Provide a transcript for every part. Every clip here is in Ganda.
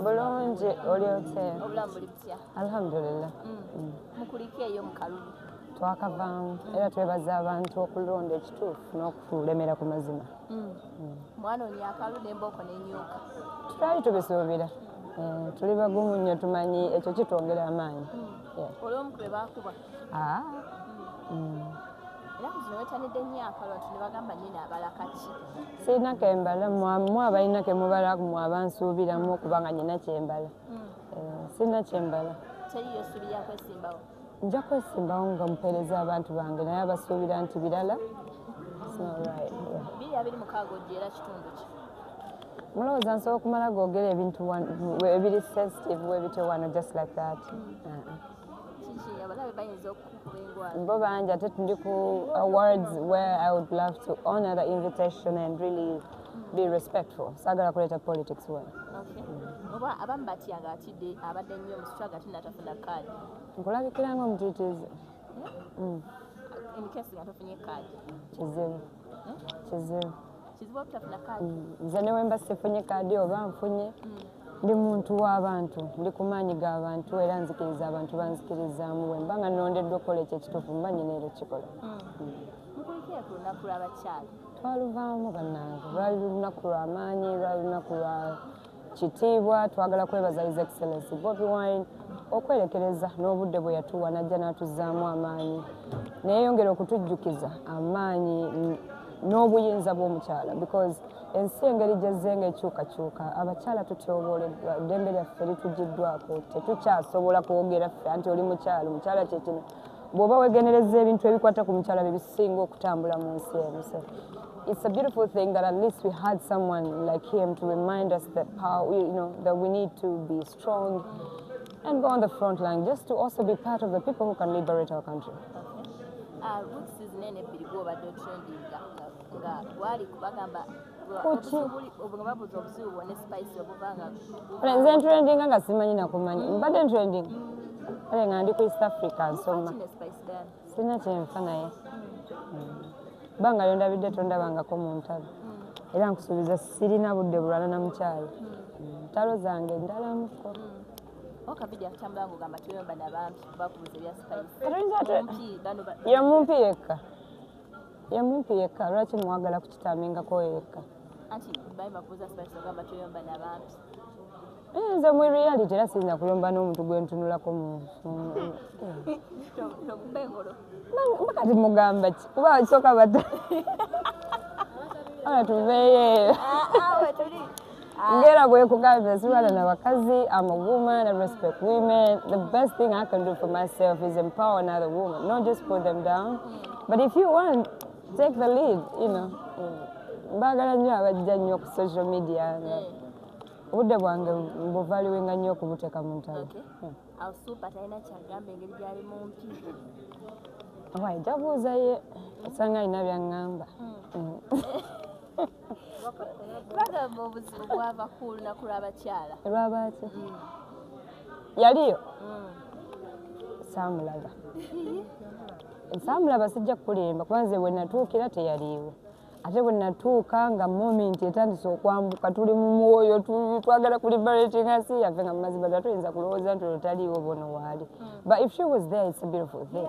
bulungi oli otya alhamdulillah mm. mm. mukulikeeyo mukalulu twakavaamu era twebaza abantu okulonda ekituufu n'okulemera ku mazima mm. mm. mwana oli akalu nembooko nenyuka tutali tubisuubira eh, tuli bagumu nnyo tumanyi ekyo kitwongera amaanyi mm. olwomukube bakuba ah. sirina kembala mwe abalina kemubala mwe abansuubiramu okubanga nyina kyembala sirina kyembala nja kwesimbawo nga mupeereza abantu bange naye abasuubira nti birala mulowooza nsobola okumala googera ebintu ebiri sensitive webityo wano just like that bo bangi ate tundi ku awards where i would love to honor the invitation and really be respectful sagala kuleta politics wena oba abamu batya nga atidde abadde nnyo omusitwa nga tinatafuna kaadi nkulabikira nga omutitiizi hmm? hmm. kizibu hmm? kizibu nze newemba sifunye kaadi oba nfunye ndi muntu w'abantu ndi ku maanyi g'abantu era nzikiriza abantu banzikirizaamu wemba nga nondeddwa okukola ekyo ekituufu mba nyina era ekikola mukulikira ku lunaku lw'abakyala twaluvaamu bannange lwali lunaku lwa maanyi lwali lunaku lwa kitiibwa twagala kwebaza his excellency bobi wine okwerekereza n'obudde bwe yatuwa najja n'atuzzaamu amaanyi neyeyongera okutujjukiza amaanyi n'obuyinza bw'omukyala because ensi engeri gyezze nga ekyukakyuka abakyala tutyobooleddwa eddembe lyaffe litugiddwako tetukyasobola kwogera ffe anti oli mukyala omukyala kyekino bw'oba weegendereza ebintu ebikwata ku mukyala bye bisinga okutambula mu nsi eno so it's a beautiful thing that at least we had someone like him to remind us that power, you know, that we need to be strong and go on the front line just to also be part of the people who can liberate our country. Uh, kuki nze ntrendinga nga simanyi nakumanyi mbadde ntrending ale nga ndi ku east africa nsoma sirina kyenfa naye banga lyondabidde tondabangako mu ntalo mm. era nkusuubiza sirina budde bulwana na mukyalo mm. ntalo zange ndalamuko yomumpi yekka ye mumpi yekka lwaki mwagala kukitambingako yekka eh, nze mu reality era siyinza kulomba n'omuntu gwe ntunulako mukati mugamba ki kuba kisoka bata ana tuveeyo ah, ah, Ngera bwe kugambye sibala na bakazi I'm a woman I respect women the best thing I can do for myself is empower another woman not just put them down but if you want take the lead you know bagala nnyo abajja nnyo ku social media nga obudde bwange mbuvaliwenga nnyo okubuteka mu ntalo waija buuza ye osanga alina byaŋŋamba hmm. Hmm. bagamba obuzibu bwava ku lunaku lw'abakyala lwabaaki mm. yaliyo mm. saamulaga saamulaba sijja kukulimba kuba nze bwe natuukira teyaliiwo ate bwe natuuka nga momenti etandise okwambuka tuli mu mwoyo twagala kuli baletinga si yaffe nga mumazima dda tuyinza kulowooza nti olwo taliiwo bono waali mm. but if she was there it's a beautiful thing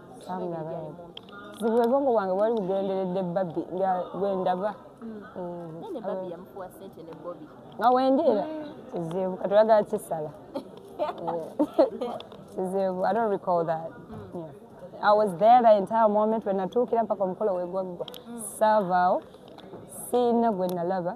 obwongo bwange bwali bugenderedde babi nga bwendaba nga wendi era kizibu katulagala kisala kizibu i don't recall that mm. yeah. I was there the entire moment when natuukira mpaka omukolo wegwaggwa mm. saavaawo siina gwe nalaba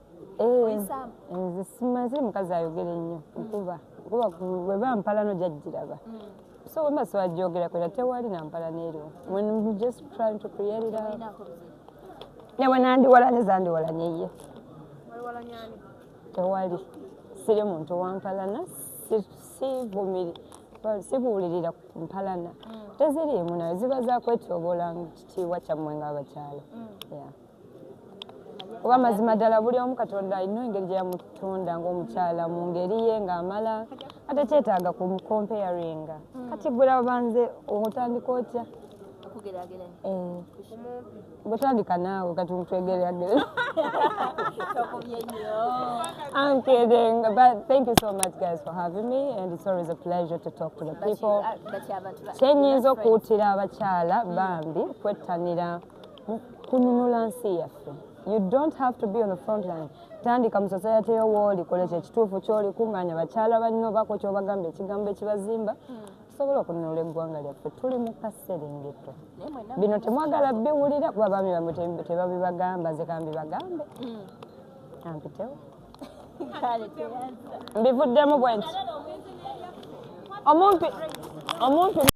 Eh, nze simaze mukazi ayogere nnyo nkuba kuba weba mpala no jajjiraba mm. so wemba siwajogera kwera tewali nampala neeriwo when you just trying to create it out newe nandiwalanye zandiwalanye ye tewali siri muntu wampalana sivumiri sibuulirira ku mpalana mm. teziriimu nayo ziba zakwetyobola kitiibwa kyammwe ngaabakyalo mm. yeah. oba mazima ddala buli omu katonda alina engeri gye yamutunda ng'omukyala mu ngeri ye ng'amala ate kyetaaga ku comparinga hmm. kati gula banze otandika otya eh. bwetandika naawe kati mutwegeragere I'm kidding, but thank you so much guys for having me and it's always a pleasure to talk to the people. Kyenyinza okuwutira abakyala bambi kwettanira kununula nsi yaffe you don't have to be on the front line tandika mu society yo wooli kola kyekituufu kyoli kunganya bakyala banno bako kyobagamba ekigambo ekibazimba tusobola okununula eggwanga lyaffe tuli mu kaserengeto bino temwagala biwulira kuba baami bamwe tebabibagamba nze kambibagambe hmm. ampitewo mbivuddemu bwenti omumpi omumpi